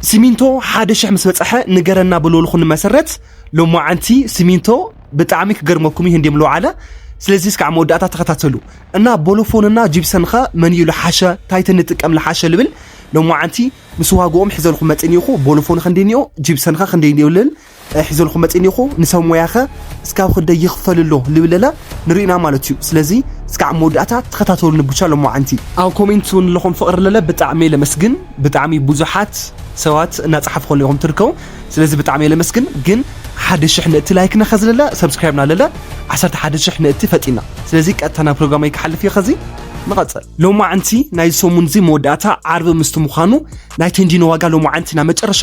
ሲሚንቶ ሓደ ሽሕ ምስ በጸሐ ንገረና ብልልኹ ንመሰረት ሎማዓንቲ ሲሚንቶ ብጣዕሚ ክገርመኩም እዩ እንዲም ለውዓለ ስለዚ እስካዕ መወዳእታ ተኸታተሉ እና ቦሎፎንና ጂብሰንኸ መንዩ ልሓሸ ታይት ንጥቀም ልሓሸ ልብል ሎማዓንቲ ምስ ዋግኦም ሕዘልኹ መጺኒኹ ቦሎፎንኸ እንዲኒኦ ጂብሰንኸ ክንደይ እንዲዮ ልል ታይ ሒዘልኩም መፂ እኒኹ ንሰብ ሞያኸ እስካብ ክንደይ ይኽፈል ኣሎ ልብለለ ንሪኢና ማለት እዩ ስለዚ እስካዕ መወዳእታ ተኸታተሉኒ ቡቻ ሎማዓንቲ። ኣብ ኮሜንት ውን ለኹም ፍቅሪ ለለ ብጣዕሚ እየ ለመስግን ብጣዕሚ ቡዙሓት ሰባት እናፃሓፍኹለይ ኢኹም ትርከቡ ስለዚ ብጣዕሚ እየ ለመስግን ግን ሓደ ሽሕ ንእቲ ላይክና ኸዚ ለለ ሰብስክራይብና ለለ ዓሰርተ ሓደ ሽሕ ንእቲ ፈጢና ስለዚ ቀጥታ ናብ ፕሮግራመይ ክሓልፍ እየ ኸዚ ንቐፅል ሎማዓንቲ ናይዚ ሰሙን እዚ መወዳእታ ዓርቢ ምስቲ ምዃኑ ናይ ቴንዲኖ ዋጋ ሎማዓንቲ ናብ መጨረሻ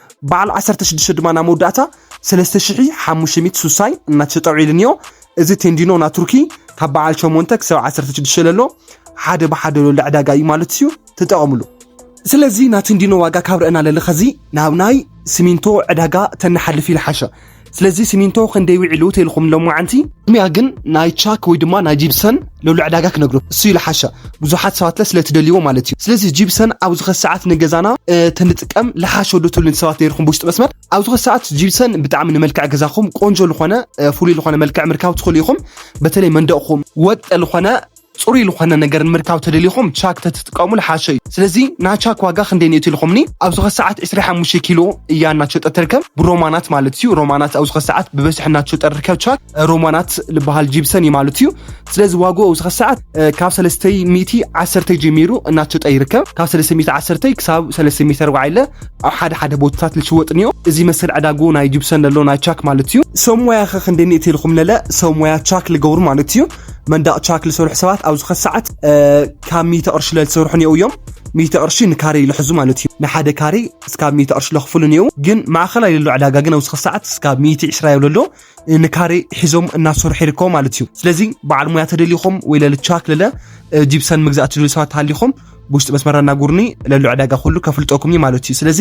በዓል ዓሰርተ ሽዱሽተ ድማ ናብ መወዳእታ ሰለስተ ሽሕ ሓሙሽተ ሚእቲ ሱሳይ እናተሸጠ ውዒሉ እኒኦ። እዚ ቴንዲኖ ናይ ቱርኪ ካብ በዓል ሸሞንተ ክሳብ ዓሰርተ ሽዱሽተ ለሎ ሓደ ብሓደ ለሎ ዕዳጋ እዩ ማለት እዩ። ተጠቐምሉ። ስለዚ ናይ ቴንዲኖ ዋጋ ካብ ረእና ለለ ኸዚ ናብ ናይ ሲሚንቶ ዕዳጋ ተንሓልፍ ይልሓሸ። ስለዚ ሲሚንቶ ክንደይ ዊዒሉ ተልኹም ሎማዓንቲ? ቅድሚያ ግን ናይ ቻክ ወይ ድማ ናይ ጂብሰን ሎሎ ዕዳጋ ክነግሩ እሱ ይልሓሻ ብዙሓት ሰባትለ ስለትደልይዎ ማለት እዩ። ስለዚ ጂብሰን ኣብ ዝኸ ሰዓት ንገዛና ተንጥቀም ልሓሾ ዶ ትብሉ ሰባት ነይርኩም ብውሽጢ መስመር ኣብ ዝኸ ሰዓት ጂብሰን ብጣዕሚ ንመልክዕ ገዛኹም ቆንጆ ዝኾነ ፍሉይ ዝኾነ መልክዕ ምርካብ ትኽእሉ ኢኹም። በተለይ መንደቕኹም ወጥ ዝኾነ ጽሩይ ልኾነ ነገር ንምርካብ ተደሊኹም ቻክ ተትጥቀሙ ልሓሸ እዩ ስለዚ ናቻክ ዋጋ ክንደይ ነይቱ ኢልኹምኒ ኣብዚ ከሰዓት ዕስራይ ሓሙሽተ ኪሎ እያ እናትሸጠ ትርከብ ብሮማናት ማለት እዩ ሮማናት ኣብዚ ከሰዓት ብበዝሒ እናትሸጠ ርከብ ቻክ ሮማናት ልበሃል ጂብሰን እዩ ማለት እዩ ስለዚ ዋግኡ ኣብዚ ከሰዓት ካብ ሰለስተይ ሚእቲ ዓሰርተይ ጀሚሩ እናትሸጠ ይርከብ ካብ ሰለስተ ሚእቲ ዓሰርተይ ክሳብ ሰለስተ ሚእቲ ኣርባዓይ ለ ኣብ ሓደ ሓደ ቦታታት ልሽወጥ ንዮ እዚ መሰል ዕዳጉ ናይ ጂብሰን ለሎ ናይ ቻክ ማለት እዩ ሰብ ሞያኸ ክንደይ ነይቱ ኢልኹም ለለ ሰብ ሞያ ቻክ ልገብሩ ማለት እዩ መንዳቕ ቻክ ዝሰርሑ ሰባት ኣብ ዝኸ ሰዓት ካብ ሚተ ቅርሺ ለዝሰርሑ ኔው እዮም ሚተ ቅርሺ ንካሬ ይልሕዙ ማለት እዩ ንሓደ ካሬ እስካብ ሚተ ቅርሺ ለኽፍሉ ኔው ግን ማእኸል ኣይለሎ ዕዳጋ ግን ኣብ ዝኸ ሰዓት እስካብ ሚቲ ዕስራ የብለሎ ንካሬ ሒዞም እናሰርሑ ይርከቡ ማለት እዩ ስለዚ በዓል ሙያ ተደሊኹም ወይ ለልቻክ ለለ ጂፕሰን ምግዛእ ትደልዩ ሰባት ተሃሊኹም ብውሽጢ መስመራ እናጉርኒ ለሉ ዕዳጋ ኩሉ ከፍልጠኩም እዩ ማለት እዩ ስለዚ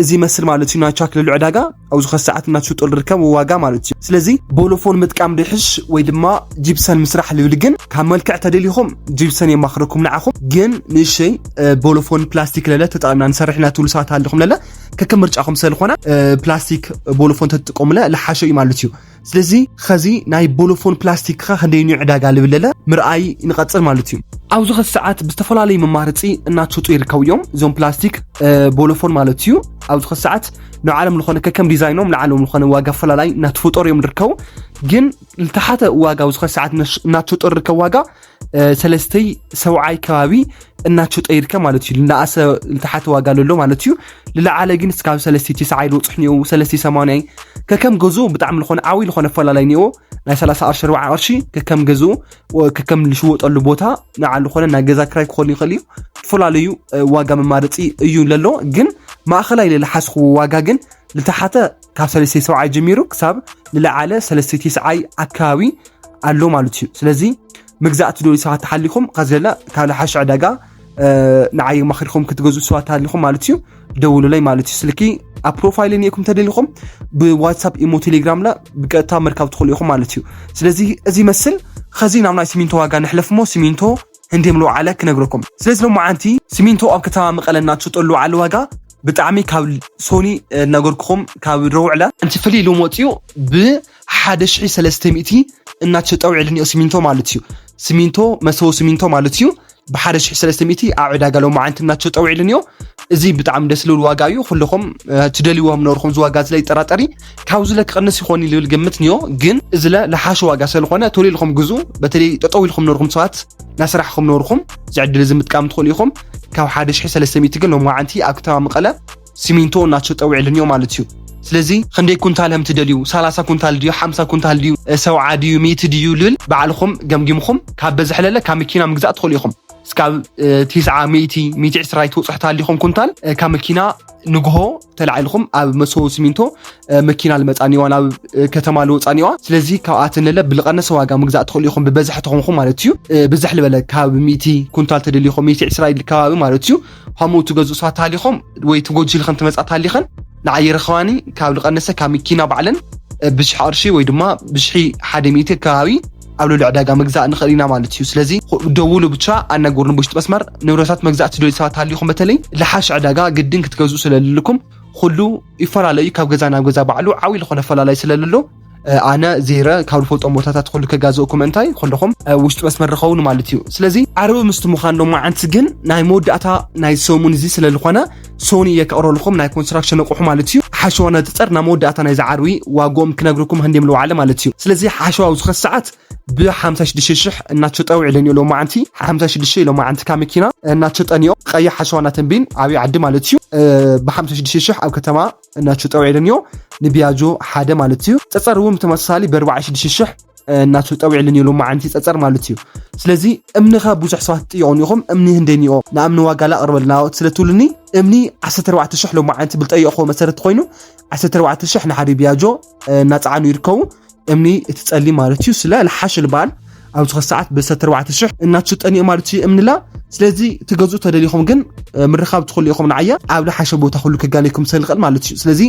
እዚ መስል ማለት እዩ ናቻት ለሉ ዕዳጋ ኣብ ዝኸ ሰዓት እናትሽጦ ዝርከብ ዋጋ ማለት እዩ ስለዚ ቦሎፎን ምጥቃም ድሕሽ ወይ ድማ ጂፕሰን ምስራሕ ልብል ግን ካብ መልክዕ ተደሊኹም ጂፕሰን የማኽረኩም ንዓኹም ግን ንእሸይ ቦሎፎን ፕላስቲክ ለለ ተጠቕምና ንሰርሕ ኢና ትብሉ ሰባት ኣለኹም ለለ ከከም ምርጫኹም ስለዝኾነ ፕላስቲክ ቦሎፎን ተትጥቀሙለ ልሓሸ እዩ ማለት እዩ ስለዚ ኸዚ ናይ ቦሎፎን ፕላስቲክ ከ ክንደይ ዩ ዕዳጋ ልብለለ ምርኣይ ንቐፅል ማለት እዩ ኣብዚ ኸዚ ሰዓት ብዝተፈላለዩ መማርፂ እናተሰጡ ይርከቡ እዮም እዞም ፕላስቲክ ቦሎፎን ማለት እዩ ኣብዚ ኸዚ ሰዓት ንዓለም ዝኾነ ከከም ዲዛይኖም ንዓለም ዝኾነ ዋጋ ኣፈላላይ እናተፈጠሩ እዮም ዝርከቡ ግን ዝተሓተ ዋጋ ኣብዚ ኸዚ ሰዓት እናተሰጠሩ ዝርከብ ዋጋ ሰለስተይ ሰብዓይ ከባቢ እናቸው ጠይርከ ማለት እዩ ልናኣሰ ልተሓተ ዋጋ ለሎ ማለት እዩ ልለዓለ ግን ስካብ ሰለስቲ ትስዓይ ልውፅሕ ኒኦ ሰለስቲ ሰማንያይ ከከም ገዙ ብጣዕሚ ልኾነ ዓብይ ልኾነ ኣፈላለይ ኒኦ ናይ 30 ቅርሺ ኣርባዓ ቅርሺ ከከም ገዙ ከከም ልሽወጠሉ ቦታ ንዓል ልኾነ ናይ ገዛ ክራይ ክኾኑ ይኽእል እዩ ዝተፈላለዩ ዋጋ መማረፂ እዩ ለሎ ግን ማእኸላይ ልልሓስኽዎ ዋጋ ግን ልተሓተ ካብ ሰለስተ ሰብዓይ ጀሚሩ ክሳብ ልለዓለ ሰለስተ ትስዓይ ኣካባቢ ኣሎ ማለት እዩ ስለዚ መግዛእቲ ዶ ሰባት ተሓሊኹም ከዘለ ካብ ሓሽ ዕዳጋ ንዓይ ማክሪኹም ክትገዝኡ ሰባት ተሃሊኹም ማለት እዩ ደውሉለይ ማለት እዩ ስልኪ ኣብ ፕሮፋይል እኒኤኩም ተደሊኹም ብዋትሳፕ ኢሞ ቴሌግራም ላ ብቀጥታ ምርካብ ትኽእሉ ኢኹም ማለት እዩ ስለዚ እዚ መስል ከዚ ናብ ናይ ሲሚንቶ ዋጋ ንሕለፍ ሞ ሲሚንቶ ህንዲ ምልዎ ዓለ ክነግረኩም ስለዚ ሎማ ዓንቲ ሲሚንቶ ኣብ ከተማ መቐለ እናትሸጠሉ ዓለ ዋጋ ብጣዕሚ ካብ ሶኒ እናገርኩኹም ካብ ረውዕላ እንት ፍልይ ኢሎም ወፅኡ ብ ሓደ ሽሒ ሰለስተ ሚእቲ እናተሸጠ ውዒሉ እኒኦ ሲሚንቶ ማለት እዩ ሲሚንቶ መሰቦ ሲሚንቶ ማለት እዩ ብሓደ ሽሒ ሰለስተ ሚእቲ ኣብ ዕዳጋ ሎማዓንቲ እናተሸጠ ውዒሉ እኒኦ እዚ ብጣዕሚ ደስ ዝብል ዋጋ እዩ ኩልኹም ትደልይዎ ምነበርኩም እዚ ዋጋ ዝለ ይጠራጠሪ ካብዚ ለ ክቕንስ ይኾን ልብል ግምት እኒኦ ግን እዚ ለ ልሓሸ ዋጋ ስለዝኾነ ቶሎ ኢልኩም ግዙ በተለይ ጠጠው ኢልኩም ነርኩም ሰባት ናስራሕኩም ነርኩም ዝዕድል እዚ ምጥቃም ትኽእሉ ኢኹም ካብ ሓደ ሽሒ ሰለስተ ሚእቲ ግን ሎማዓንቲ ኣብ ከተማ መቐለ ሲሚንቶ እናተሸጠ ውዒሉ እኒኦ ማለት እዩ። ስለዚ ክንደይ ኩንታል ከም ትደልዩ ሰላሳ ኩንታል ድዩ ሓምሳ ኩንታል ድዩ ሰውዓ ድዩ ሚእቲ ድዩ ልብል ባዕልኹም ገምጊምኹም ካብ በዝሒ ለለ ካብ መኪና ምግዛእ ትኽእሉ ኢኹም እስካብ ቲስዓ ሚእቲ ሚእቲ ዕስራ ይትወፅሑ ታሊኹም ኩንታል ካብ መኪና ንግሆ ተላዒልኹም ኣብ መሰቦ ሲሚንቶ መኪና ልመፃኒዋ ናብ ከተማ ልወፃኒዋ ስለዚ ካብኣተን ለለ ብልቐነሰ ዋጋ ምግዛእ ትኽእሉ ኢኹም ብበዝሒ ተኾንኹም ማለት እዩ ብዝሕ ልበለ ካብ ሚእቲ ኩንታል ተደሊኹም ሚእቲ ዕስራ ኢል ከባቢ ማለት እዩ ሀሙ ትገዝእ ሷት ሃሊኸም ወይ ትጎጅል ከም ትመጻት ሃሊኸን ንዓይ ይረኸባኒ ካብ ልቀነሰ ካብ መኪና ባዕለን ብሽሕ ቅርሺ ወይ ድማ ብሽሒ ሓደ ሚእቲ ከባቢ ኣብ ልዕሊ ዕዳጋ ምግዛእ ንኽእል ኢና ማለት እዩ ስለዚ ደውሉ ብቻ ኣናገሩን ብውሽጢ መስመር ንብረታት መግዛእ ትደልዩ ሰባት ሃሊኹም በተለይ ልሓሽ ዕዳጋ ግድን ክትገዝኡ ስለልልኩም ኩሉ ይፈላለዩ ካብ ገዛ ናብ ገዛ ባዕሉ ዓብይ ዝኾነ ኣፈላላይ ስለልሎ ኣነ ዜረ ካብ ዝፈልጦም ቦታታት ኩሉ ከጋዘእኩም እንታይ ኩለኹም ውሽጢ መስመር ርኸውን ማለት እዩ ስለዚ ዓርቢ ምስቲ ምዃን ሎ መዓንቲ ግን ናይ መወዳእታ ናይ ሰሙን እዚ ስለ ዝኾነ ሶኒ እየ ከቕረልኹም ናይ ኮንስትራክሽን ኣቑሑ ማለት እዩ ሓሸዋ ነፅፀር ናብ መወዳእታ ናይ ዝዓርቢ ዋጎም ክነግርኩም ህንዲም ልዋዕለ ማለት እዩ ስለዚ ሓሸዋ ኣብ ዝኸስ ሰዓት ብ56 ሽሕ እናተሸጠው ዕለን እዩ ሎ መዓንቲ 56 ኢሎ መዓንቲ ካብ መኪና እናተሸጠን እዮም ቀይሕ ሓሸዋ እናተንቢን ዓብዪ ዓዲ ማለት እዩ ብ56 ሽሕ ኣብ ከተማ እናቹ ጠውዒልንዮ ንቢያጆ ሓደ ማለት እዩ ፀፀር እውን ብተመሳሳሊ በርባዓ ሽዱሽተ ሽሕ እናቱ ጠዊዕልን የሎ መዓንቲ ፀፀር ማለት እዩ ስለዚ እምኒኸ ብዙሕ ሰባት ትጥየቑን ኢኹም እምኒ ህንደይንኦ ንኣምኒ ዋጋላ ኣቕርበልና ስለትብሉኒ እምኒ 14 ሽሕ ሎመዓንቲ ብልጠየቕኹዎ መሰረት ኮይኑ 14 ሽሕ ንሓደ ቢያጆ እናፀዓኑ ይርከቡ እምኒ እቲ ጸሊ ማለት እዩ ስለ ልሓሽ ልበሃል ኣብ ዝኸ ሰዓት ብሰተ ኣርባዕተ ሽሕ እናትሽጠን እዩ ማለት እዩ እምንላ ስለዚ ትገዝኡ ተደሊኹም ግን ምርኻብ ትኽእሉ ኢኹም ንዓያ ኣብ ልሓሸ ቦታ ኩሉ ክጋነይኩም ሰልኽእል ማለት እዩ ስለዚ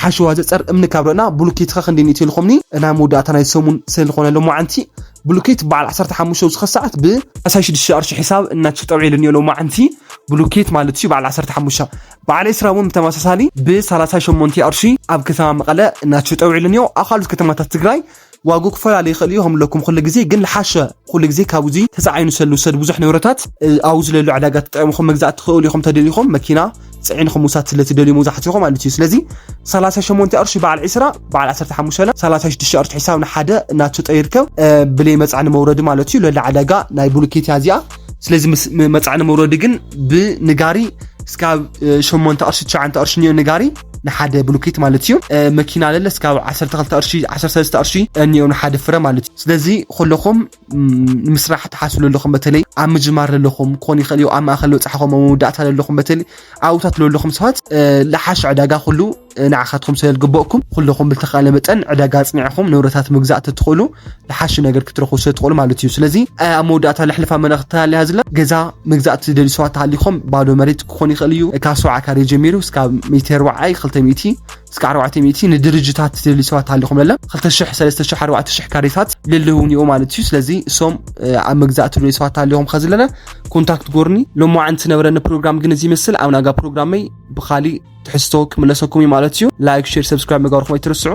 ሓሸዋ ዘፀር እምኒ ካብ ርና ብሉኬት ኸ ክንደይ ንእት ኢልኹምኒ ናይ መወዳእታ ናይ ሰሙን ሰልኾነ ሎማዓንቲ ብሉኬት በዓል 15 ዝኸ ሰዓት ብ16 ቅርሺ ሒሳብ እናትሽጠብዒ ኢሉኒ ሎማዓንቲ ብሉኬት ማለት እዩ በዓል 15 በዓል ኤስራ እውን ብተመሳሳሊ ብ38 ኣርሺ ኣብ ከተማ መቐለ ናቸው ጠውዒሉ እኒኦ ኣብ ካልኦት ከተማታት ትግራይ ዋጉ ክፈላለ ይኽእል እዩ ከምለኩም ኩሉ ግዜ ግን ልሓሸ ኩሉ ግዜ ካብ እዚ ተፃዒኑ ሰሉ ሰድ ብዙሕ ንብረታት ኣብ ዝለሉ ዕዳጋ ተጠቂምኹም መግዛእ ትኽእሉ ኢኹም ተደሊኹም መኪና ፅዒንኹም ውሳድ ስለትደልዩ መብዛሕትኹ ማለት እዩ ስለዚ 38 ቅርሺ በዓል 20 በዓል 15 ለ 36 ቅርሺ ሒሳብ ንሓደ እናተጠ ይርከብ ብለይ መፃዕኒ መውረዲ ማለት እዩ ለላ ዕዳጋ ናይ ቡሉኬትያ እዚኣ ስለዚ ምስ መፃዕኒ መውረዲ ግን ብንጋሪ እስካብ ሸሞንተ ቅርሺ ትሸዓንተ ቅርሺ እኒኦ ንጋሪ ንሓደ ብሉኬት ማለት እዩ መኪና ለለ እስካብ ዓሰርተ ክልተ ቅርሺ ዓሰርተ ሰለስተ ቅርሺ እኒኦ ንሓደ ፍረ ማለት እዩ ስለዚ ኩለኹም ንምስራሕ ትሓስቡ ዘለኹም በተለይ ኣብ ምጅማር ዘለኹም ክኾን ይኽእል እዩ ኣብ ማእኸል በፅሕኹም ኣብ መወዳእታ ዘለኹም በተለይ ኣብታት ዘለኹም ሰባት ልሓሽ ዕዳጋ ኩሉ ንዓኻትኩም ስለ ዝግበእኩም ኩለኹም ብልተኻእለ መጠን ዕዳጋ ኣጽኒዕኹም ንብረታት ምግዛእ ተትኽእሉ ዝሓሸ ነገር ክትረኽቡ ስለ ትኽእሉ ማለት እዩ። ስለዚ ኣብ መወዳእታ ለሕልፋ መልእኽቲ ተላልያ ዝላ ገዛ ምግዛእ ትደልዩ ሰባት ተሃሊኹም ባዶ መሬት ክኾን ይኽእል እዩ ካብ ሰብዓ ካሬ ጀሚሩ እስካብ ሚእቲ ርብዓይ ክልተ ሚእቲ እስካብ ኣርባዕተ ሚእቲ ንድርጅታት ትደልዩ ሰባት ተሃሊኹም ለለ ክልተ ሽሕ ሰለስተ ሽሕ ኣርባዕተ ሽሕ ካሬታት ልልውን እዩ ማለት እዩ። ስለዚ እሶም ኣብ መግዛእ ትደልዩ ሰባት ተሃሊኹም ከዝለለ ኮንታክት ጎርኒ ሎማዓንቲ ነበረኒ ፕሮግራም ግን እዚ ይመስል ኣብ ናጋ ፕሮግራመይ ብካሊእ ትሕዝቶ ክምለሰኩም እዩ ማለት እዩ ላይክ ሼር ሰብስክራይብ ምግባርኩም ኣይትርስዑ